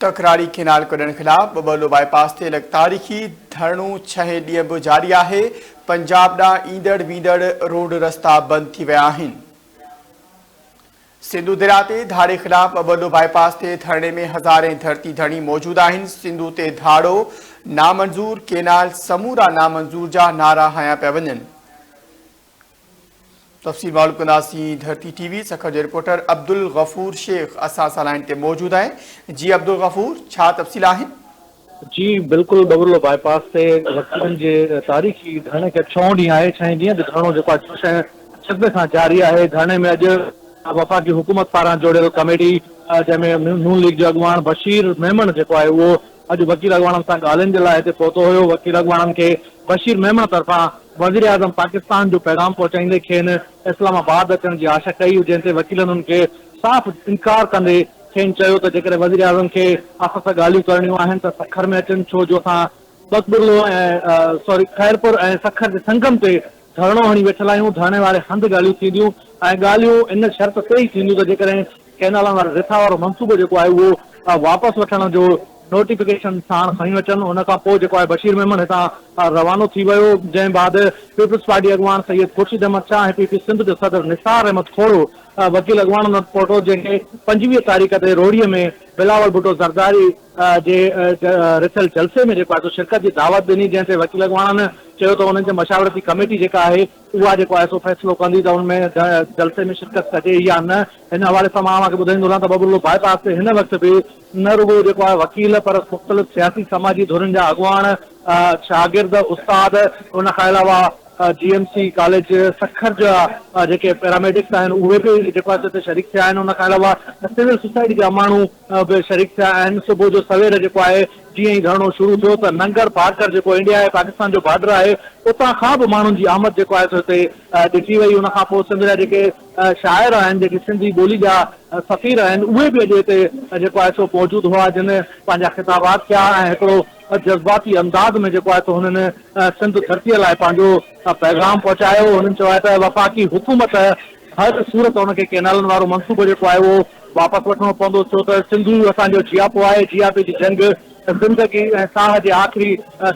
ڪڪراڙي canal ڪڍڻ خلاف ٻٻلو باء پاس تي لڳ تاريخي ڌرڻو ڇهين ڏينهن به جاري آهي، پنجاب ڏانهن ايندڙ ويندڙ روڊ رستا بند ٿي ويا آهن. سنڌو درياء تي ڌاڙي خلاف ٻٻلو باء پاس تي ڌرڻي ۾ هزارين ڌرتي ڌڻي موجود آهن، سنڌو تي ڌاڙو نامنظور، ڪينال سمورا نامنظور جا نعرا هنيا پيا وڃن. تفصيل معلوم ڪنداسين ڌرتي ٽي وي سکر جي رپورٽر عبدالغفور شيخ اسان سان لائين تي موجود آهي جي عبدالغفور ڇا تفصيل آهن. جي بلڪل ٻٻرلو باء پاس تي وڪيلن جي تاريخي ڌرڻي کي اڄ ڇهون ڏينهن آهي ڇهين ڏينهن به ڌرڻو جيڪو آهي ڇهه شهر جذبي سان جاري آهي ڌرڻي ۾ اڄ وفاقي حڪومت پاران جوڙيل ڪميٽي جنهن ۾ نون ليگ جو اڳواڻ بشير ميمڻ جيڪو آهي اهو اڄ وڪيل اڳواڻن سان ڳالهين جي لاء هتي پهتو هيو، وڪيل اڳواڻن کي بشير ميمڻ طرفان وزيراعظم پاڪستان جو پيغام پهچائيندي کين اسلام آباد اچڻ جي آڇ ڪئي، جنهن تي وڪيلن ان کي صاف انڪار ڪندي کين چيو ته جيڪڏهن وزيراعظم کي اسان سان ڳالهيون ڪرڻيون آهن ته سکر ۾ اچن ڇو جو اسان ٻڪبرلو ۽ خيرپور ۽ سکر جي سنگم تي ڌرڻو هڻي ويٺل آهيون، ڌرڻي واري هنڌ ڳالهيون ٿينديون ۽ ڳالهيون ان شرط تي ئي ٿينديون ته جيڪڏهن ڪئنالن واري رٿا وارو منصوبو جيڪو آهي اهو واپس وٺڻ جو نوٽيفڪيشن ساڻ کڻي اچن ان کان پوء جيڪو آهي بشير ميمڻ هتان روانو ٿي ويو جنهن بعد پيپلز پارٽي اڳواڻ سيد خورشيد احمد شاهه ۽ پي پي سنڌ جو صدر نثار احمد کوڙو وڪيل اڳواڻن وٽ پهتو جنهن کي پنجويهه تاريخ تي روهڙي ۾ بلاول ڀٽو زرداري جي رٿيل جلسي ۾ جيڪو آهي سو شرڪت جي دعوت ڏني جنهن تي وڪيل اڳواڻن چيو ته انهن جي مشاورتي ڪميٽي جيڪا آهي اها جيڪو آء ايس او فيصلو ڪندي ته ان ۾ جلسي ۾ شرڪت ڪجي يا نه ان حوالي سان مان اوهان کي ٻڌائيندو رهان ته ٻٻرلو باء پاس تي هن وقت به نه رڳو جيڪو آهي وڪيل پر مختلف سياسي سماجي ڌرين جا اڳواڻ شاگرد استاد ان کان علاوه G M C college Sukkur جا جيڪي پيراميڊڪس آهن اهي به جيڪو آهي سو هتي شريڪ ٿيا آهن ان کان علاوه سول سوسائٽي جا ماڻهو به شريڪ ٿيا آهن صبح جو سوير جيڪو آهي جيئن ئي ڌرڻو شروع ٿيو ته ننگر پارڪر جيڪو انڊيا ۽ پاڪستان جو بارڊر آهي اتان کان به ماڻهن جي آمد جيڪو آهي سو هتي ڏٺي وئي ان کان پوء سنڌ جا جيڪي شاعر آهن جيڪي سنڌي ٻولي جا سفير آهن اهي به اڄ هتي جيڪو آهي سو موجود هئا جن پنهنجا خطابات ڪيا ۽ هڪڙو جذباتي انداز ۾ جيڪو آهي سو هنن سنڌ ڌرتيء لاء پنهنجو پيغام پهچايو هنن چيو آهي ته وفاقي حڪومت هر صورت هن کي ڪئنالن وارو منصوبو جيڪو آهي اهو واپس وٺڻو پوندو ڇو ته سنڌو اسان جو جياپو آهي، جياپي جي جنگ زندگي ۽ ساهه جي آخري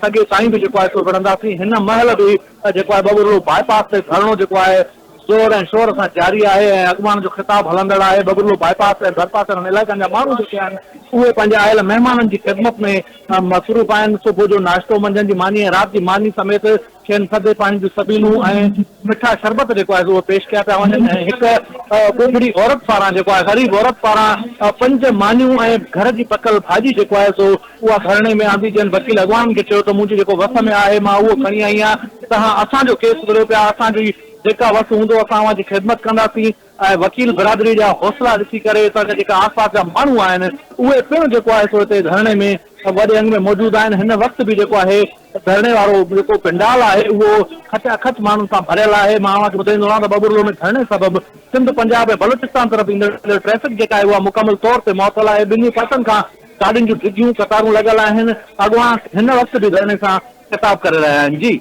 سڳي تائين به جيڪو آهي سو وڙهنداسين، هن مهل به جيڪو آهي ٻٻرڙو باء پاس تي ڌرڻو جيڪو آهي زور ۽ شور سان جاري آهي ۽ اڳواڻن جو خطاب هلندڙ آهي، ٻٻرڙو باء پاس ۽ ڀرپاسرن علائقن جا ماڻهو جيڪي آهن اهي پنهنجي آيل مهمانن جي خدمت ۾ مصروف آهن، صبح جو ناشتو، منجهند جي ماني ۽ رات جي ماني سميت. کين ٿڌي پاڻي جون سبيلون ۽ مٺا شربت جيڪو آهي اهي پيش ڪيا پيا وڃن ۽ هڪ ٻوڙڙي عورت پاران جيڪو آهي غريب عورت پاران پنج مانيون ۽ گهر جي پڪل ڀاڄي جيڪو آهي سو اها ڌرڻي ۾ آندي جن وڪيل اڳواڻن کي چيو ته منهنجي جيڪو وس ۾ آهي مان اهو کڻي آئي آهيان تهان اسان جو ڪيس وريو پيا اسان جي جيڪا وس هوندو اسان اوهان جي خدمت ڪنداسين ۽ وڪيل برادري جا حوصلا ڏسي ڪري اتان جا جيڪا آس پاس جا ماڻهو آهن اهي پڻ جيڪو آهي سو هتي ڌرڻي ۾ وڏي انگ ۾ موجود آهن هن وقت به جيڪو آهي ڌرڻي وارو جيڪو پنڊال آهي اهو کچ اکچ ماڻهن سان ڀريل آهي مان اوهان کي ٻڌائيندو رهان ته ٻٻرلو ۾ ڌرڻي سبب سنڌ پنجاب ۽ بلوچستان طرف ايندڙ ٽريفڪ جيڪا آهي اها مڪمل طور تي معطل آهي ٻنهي پاسن کان گاڏين جون ڊگهيون قطارون لڳل آهن اڳواڻ هن وقت به ڌرڻي سان خطاب ڪري رهيا آهن جي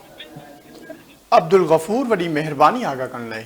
عبدالغفور وڏي مهرباني آگاهه ڪرڻ لاء.